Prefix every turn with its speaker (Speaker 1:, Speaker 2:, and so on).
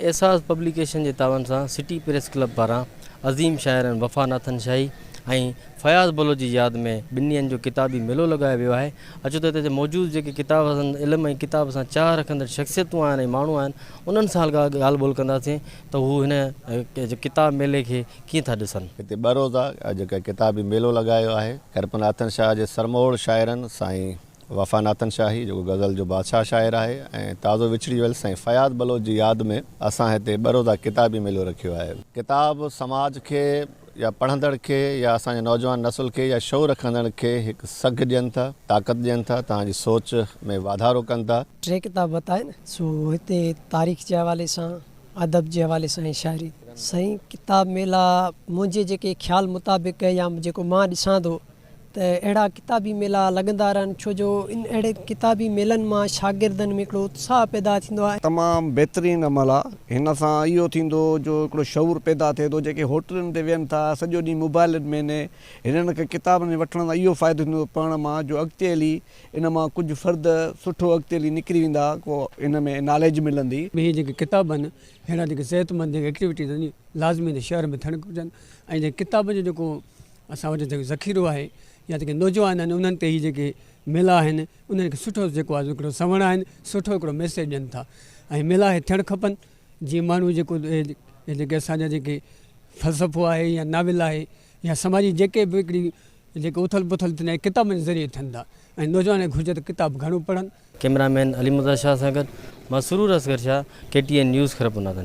Speaker 1: اعزاز پبليڪيشن جي تعاون سان سٽي پريس ڪلب پاران عظيم شاعرن وفا ناٿن شاهي ۽ فياض بلوچ جي ياد ۾ ٻن ڏينهن جو ڪتابي ميلو لڳايو ويو آهي. اچو ته هتي جا موجود جيڪي ڪتاب پسند، علم ۽ ڪتاب سان چاهه رکندڙ شخصيتون آهن ۽ ماڻهو آهن، انهن سان ڳالهه ٻولهه ڪنداسين ته هو هن ڪتاب ميلي کي ڪيئن ٿا ڏسن. هتي ٻه روزه
Speaker 2: جيڪو ڪتابي ميلو لڳايو آهي، ڪرپناٿن شاهه جي سرموڙ شاعرن سائين وفا ناتن شاهي جيڪو غزل جو بادشاهه شاعر آهي ۽ تازو وڇڙي ويل سائين فياض بلوچ جي ياد ۾ اسان هتي ٻه روزه ڪتابي ميلو رکيو آهي. ڪتاب سماج کي يا پڙهندڙ کي يا اسان جي نوجوان نسل کي يا شعور رکندڙن کي هڪ سگهه ڏين ٿا، طاقت ڏين ٿا، توهان جي سوچ ۾ واڌارو ڪن ٿا. ٽي ڪتاب بتاين
Speaker 3: سو هتي تاريخ جي حوالي سان، ادب جي حوالي سان ۽ شاعري. سائين ڪتاب ميلا منهنجي جيڪي خيال مطابق يا جيڪو مان ڏسان ٿو. ته اهڙا ڪتابي ميلا لڳندا رهن ڇو جو ان اهڙي ڪتابي ميلن مان شاگردن ۾ هڪڙو اتساهه پيدا ٿيندو آهي. تمام بهترين
Speaker 4: عمل آ هن سان اهو ٿيندو جو هڪڙو شعور پيدا ٿئي ٿو جيڪي هوٽلن تي ويهن ٿا سڄو ڏينهن موبائلن ۾ ني هنن کي ڪتابن جي وٺڻ سان اهو فائدو ٿيندو پڙهڻ مان جو اڳتي هلي ان مان ڪجهه فرد سٺو اڳتي هلي نڪري ويندا ڪو هن ۾ ناليج ملندي. اهي جيڪي ڪتاب آهن
Speaker 5: اهڙا جيڪي صحت مند جيڪي ايڪٽيوٽيز آهن لازمي ان شهر ۾ ٿيڻ گهرجن ۽ جيڪي ڪتابن جو جيڪو اسان وٽ جيڪو ذخيرو آهي يا جيڪي نوجوان آهن انهن تي هي جيڪي ميلا آهن انهن کي سٺو جيڪو آهي هڪڙو سنوڻ آهن سٺو هڪڙو ميسيج ڏين ٿا ۽ ميلا هي ٿيڻ کپن جي ماڻهو جيڪو جيڪي اسان جا جيڪي فلسفو آهي يا ناول آهي يا سماجي جيڪي به هڪڙي جيڪي اٿل پٿل ٿيندا آهن ڪتابن جي ذريعي ٿين ٿا ۽ نوجوان کي گهرجي ته ڪتاب گهڻو پڙهن. ڪيمرا
Speaker 1: مين علي مرزا شاهه
Speaker 5: سان
Speaker 1: گڏ مان Sarwar Asghar Shah K
Speaker 5: T
Speaker 1: N news Khairpur نادنجان.